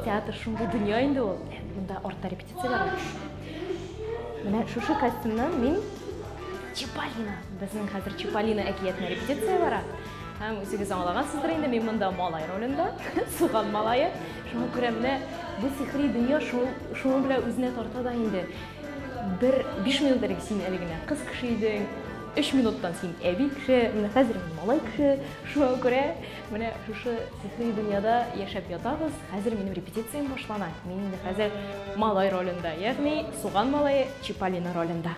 Театр шундый дөнья инде ул. Монда артта репетицияләр. Менә шушы костюмнан мин Чиполлино. Безнең хәзер Чиполлино әкиятенә репетиция бара. Һәм үзегез аңлагансыздыр инде, мин монда малай ролендә, суган малае. Шуңа күрә менә бу сихри дөнья шуның белән үзенә тарта да инде. Бер биш минут элек син әле генә кыз кеше идең, өч минуттан син әби кеше, менә хәзер мин малай кеше. Шуңа күрә менә шушы сихри дөньяда яшәп ятабыз. Хәзер минем репетициям башлана. Мин инде хәзер малай ролендә, ягъни суган малае Чиполлино ролендә.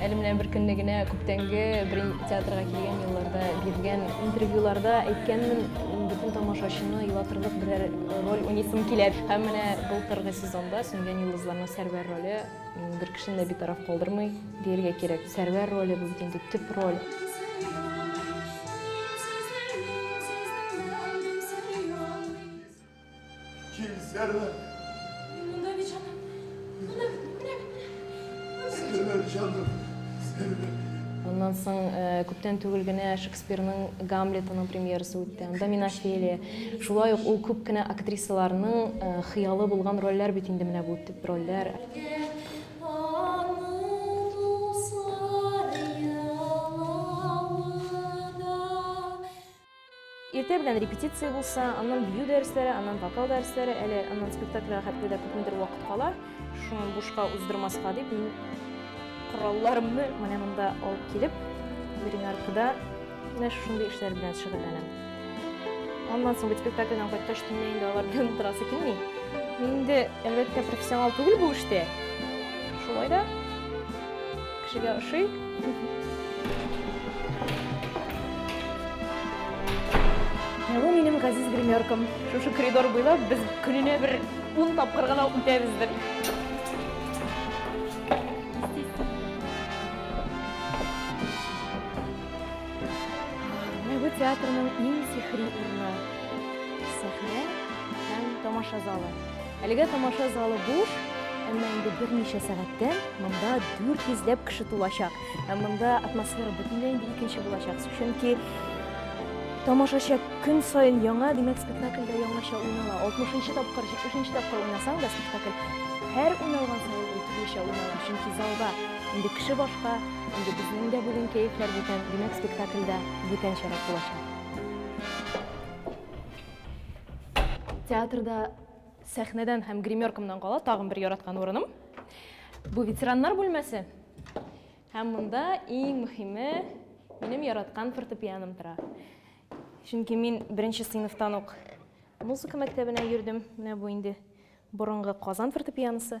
Әле менә беркөнне генә күптәнге бер театрга килгән елларда биргән интервьюларда әйткәнмен, бөтен тамашачыны елатырлык берәр роль уйныйсым килә. Һәм менә былтыргы сезонда Сүнгән йолдызларның Сәрвәр роле бер кешене дә битараф калдырмый, дияргә кирәк. Сәрвәр роле бу бит инде төп роль. Килсәләр. Мин монда бит җаным. Менә, менә, менә. Сәләмә җаным. Сәләмә. Моннан соң э, күптән түгел генә Шекспирның Гамлетының премьерасы үтте. Анда мин Офелия. Шулай ук ул күп кенә актрисаларның э, хыялы булган рольләр бит инде менә бу төп рольләр. Иртә белән репетиция булса, аннан бию дәресләре, аннан вокал дәресләре, әле аннан спектакльгә хәтле дә күпмедер вакыт кала. Шуны бушка уздырмаска дип, мин коралларымны менә монда алып килеп, берең аркада менә шушындый эшләр белән шөгыльләнәм. Аннан соң бит спектакльдән кайткач төнлә инде алар белән утырасы килми. Мин инде, әлбәттә, профессионал түгел бу эштә. Шулай да Кешегә ошый. Бу минем газиз гримеркам. Шушы коридор буйлап без көненә бер ун тапкыр гына үтәбездер. Бу театрның иң сихри урыны. Сәхнә һәм тамаша залы. Әлегә тамаша залы буш, әмма инде берничә сәгатьтән монда 400 ләп кеше тулачак. Һәм монда атмосфера бөтенләй инде икенче булачак. Чөнки тамашачы көн саен яңа, димәк, спектакльдә яңача уйнала. 60-нчы тапкыр, 70-нче тапкыр уйнасаң да спектакль һәр уйналган саен ул төрлечә уйнала. Чөнки залда инде кеше башка, инде безнең дә бүген кәефләр бүтән, димәк, спектакль дә бүтәнчәрәк булачак. Театрда сәхнәдән һәм гримеркамнан кала тагын бер яраткан урыным. Бу ветераннар бүлмәсе. Һәм монда иң мөһиме минем яраткан фортепианом тора. Чөнки мин беренче сыйныфтан ук музыка мәктәбенә йөрдем. Менә бу инде борынгы Казан фортепианосы.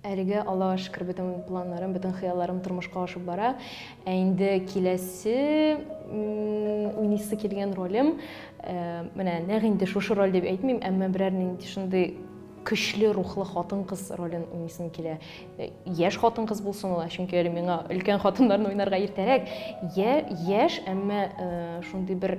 Әлегә Аллага шөкер бөтен планнарым, бөтен хыялларым тормышка ашып бара. Ә инде киләсе уйныйсы килгән ролем, э, менә нәкъ инде шушы роль дип әйтмим, әмма берәр нинди шундый көчле рухлы хатын-кыз ролен уйныйсым килә. Э, яшь хатын-кыз булсын ул, чөнки әле миңа өлкән хатыннарны уйнарга иртәрәк. Я, яшь, әмма э, шундый бер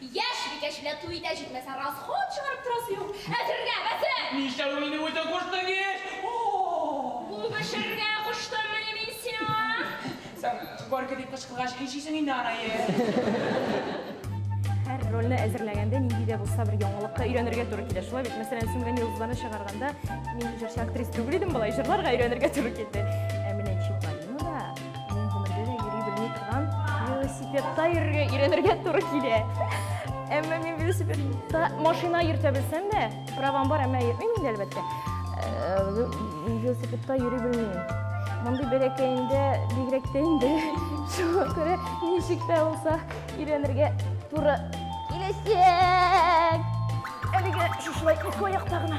Яшь бикәченә туй итә җитмәсә расход чыгарып торасы юк. Әзергә, бәзер! Нишләү мине үзе кушты геш? О-о-о! Бу пешергә куштыммыни мин сиңа? Соң, горько дип кычкыргач ни эшлисең инде анае? Һәр рольне әзерләгәндә нинди дә булса бер яңалыкка өйрәнергә туры килә, шулай бит? Мәсәлән, Сүнгән йолдызларны чыгарганда мин җырчы-актриса түгел идем, болай җырларга өйрәнергә туры килде. Минем гомердә дә йөри белми торган велосипедта йөрергә өйрәнергә туры килә. Әмма мин велосипедта машина йөртә белсәм дә, правам бар, әмма йөрмим инде әлбәттә. Э, велосипедта йөри белмим. Мондый бәләкәендә бигрәк тә инде шуңа күрә ничек тә булса өйрәнергә туры киләчәк. Әлегә шушылай ике аякта гына.